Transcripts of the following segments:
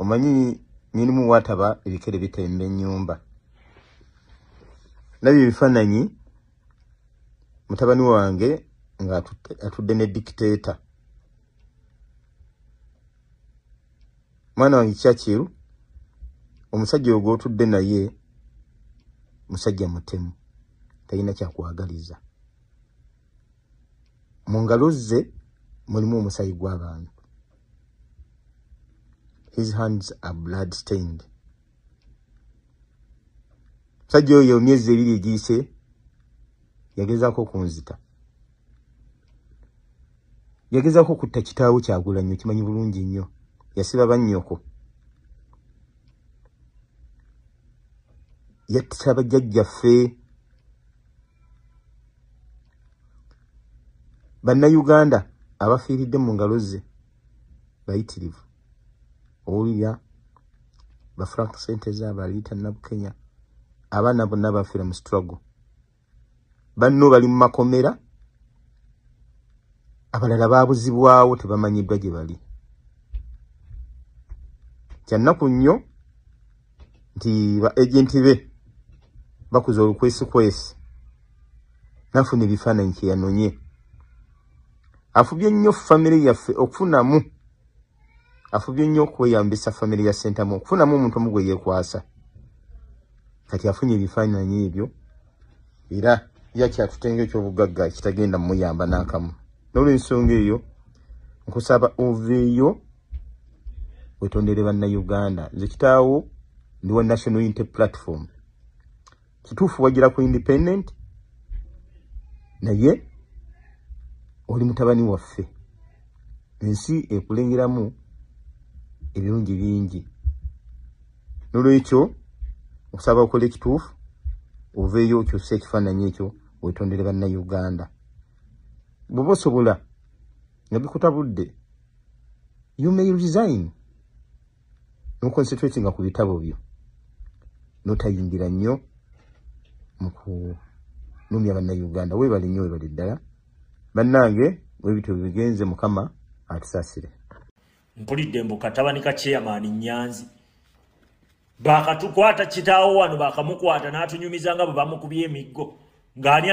omanyi nyinimu wataba ebikere bitemba enyumba nabyo ebifananyi mutabani wange nga atudde ne dictator mwana wange kyakiru omusajja oyo gwotudde naye musajja mutemu talina kyakwagaliza mu ngalo ze mulimu omusayi gw'abantu his hands are blood stained musajja oyo myezi ebiri egiyise yagezaako okunzita yagezaako okutta kitaawo kyagula nnyo kimanyi bulungi nnyo yasiba bannyoko yatta bajjajjaffe bannayuganda abafiiridde mu ngalo ze bayitirivu owulira bafrank sente zabaliyita nabukenya abaana bonna bafiira mu struggle banno bali mu makomera abalala babuzibwawo tebamanyiddwa gye bali kyannaku nnyo nti ba agenti be bakuza olukwesikwesi nafuna ebifaananyi kyeyanonye afubye nnyo famire yaffe okufunamu afubye nnyo okweyambisa famire ya sentamu okufunamu omuntu omu gwe yeekwasa kati afunye ebifaananyi ebyo era yakyatutenga ekyobugagga ekitagenda mumuyamba n'akamu n'olwensonga eyo nkusaba oveeyo wetondere banna uganda nze kitaawo ndi wa national unity platform kituufu wagira ku independent naye oli mutabani waffe ensi ekulengeramu ebirungi bingi nolwekyo okusaba okola ekituufu oveeyo okyusa ekifaananyi ekyo wetondere banna uganda bwoba osobola nga bikutabudde you may resign no concentrating ku bitabo byo notayingira nnyo mu kunumya bannayuganda webale nnyo webale ddala bannange webityo bigenze mukama atusasire mpulidde mbu katabani ka chairman nyanzi baakatukwata kitaawo wano baakamukwata n'atunyumiza nga bwe bamukubye emiggo ng'ani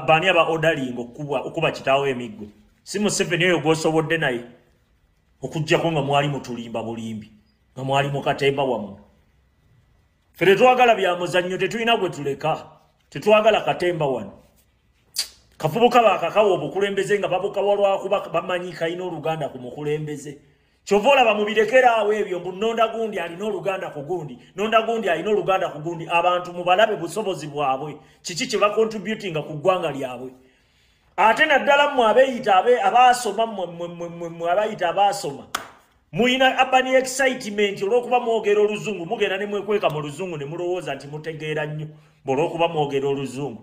baani aba odalinga okukuba kitaawo emiggo si museveni oyo gwosobodde naye okugjako nga mwali mutulimba bulimbi nga mwali mukatemba wammwe fe tetwagala byamuzannyo tetulina gwe tuleka tetwagala katemba wano kafubuka bakakawa obukulembeze nga babukawa lwakuba bamanyi kalina oluganda ku mukulembeze kyova olaba mubirekera awo ebyo mbu nonda gundi alina oluganda ku gundi nonda gundi alina oluganda ku gundi abantu mubalabe busobozi bwabwe kiki kye bakontributinga ku ggwanga lyabwe ate naddala mmwe abeyita abaasoma mmwe abayita abaasoma mulina abani excitement olwokuba mwogera oluzungu mugenda ne mwekweka mu luzungu ne mulowooza nti mutegeera nnyo mbu olwokuba mwogera oluzungu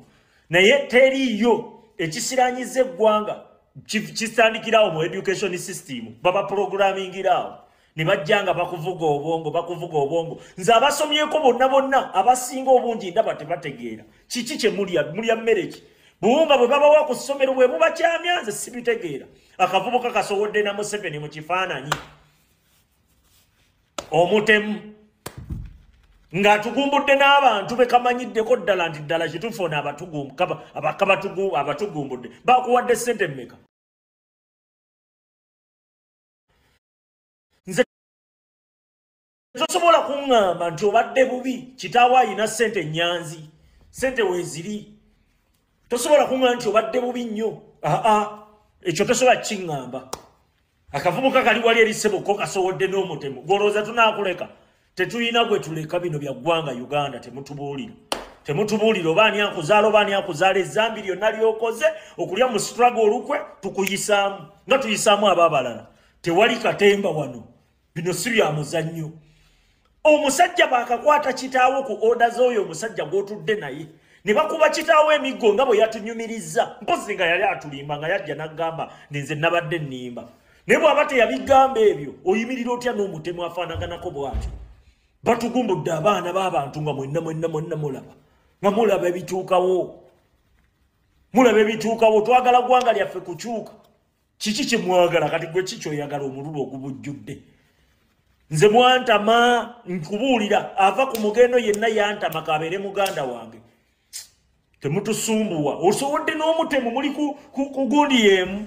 naye teriiyo ekisiranyiza eggwanga kitandikirawo mu education system baba programmingiraawo ne bajja nga bakuvuga obwongo bakuvuga obwongo nze abasomyeko bonna bonna abasinga obungi ndaba tebategeera kiki kye mulya mulya mmereki buwunga bwe babawa ku ssomero bwe bubakyamya nze sibitegeera akavubuka kasowodde na museveni mu kifaananyi omutemu ng'atugumbudde n'abantu be kamanyiddeko ddala nti ddala kituufu ono abatugumbudde bakuwadde ssente mmeka nze tosobola kuŋŋamba nti obadde bubi kitaawo ayina ssente ennyanzi ssente weeziri tosobola kuŋŋamba nti obadde bubi nnyo aa ekyo tosobola kiŋŋamba akavubuka kali wali eri ssebo ko kasowodde n'omutemu gwolowooza tunaakuleka tetulina gwe tuleka bino bya ggwanga uganda temutubuulira temutubuulira oba ani akuzaala oba ani akuzaala ezambi lyonna lyokoze okulya mu strago olukwe tukuyisaamu nga tuyisaamu abo abalala tewali katemba wano bino si bya muzannyo omusajja bakakwata kitaawo ku oda z'oyo omusajja gw'otudde naye ne bakuba kitaawo emiggo nga bwe yatunyumirizza mpozi nga yali atulimba nga yajja n'agamba ninze nabadde nnimba naye bw'aba teyabigamba ebyo oyimirira otya n'omutemu afaanaganako bw'atyo batugumbudde abaana b'abantu nga mwenna mwenna mwenna mulaba nga mulaba ebituukawo mulaba ebituukawo twagala ggwanga lyaffe kukyuka kiki kyemwagala kati gwe ki kyoyagala omululu ogubujjudde nze mwantama nkubuulira ava ku mugendo yenna yantama kabeere muganda wange temutusumbuwa osowodde n'omutemu muli kugundi yeemu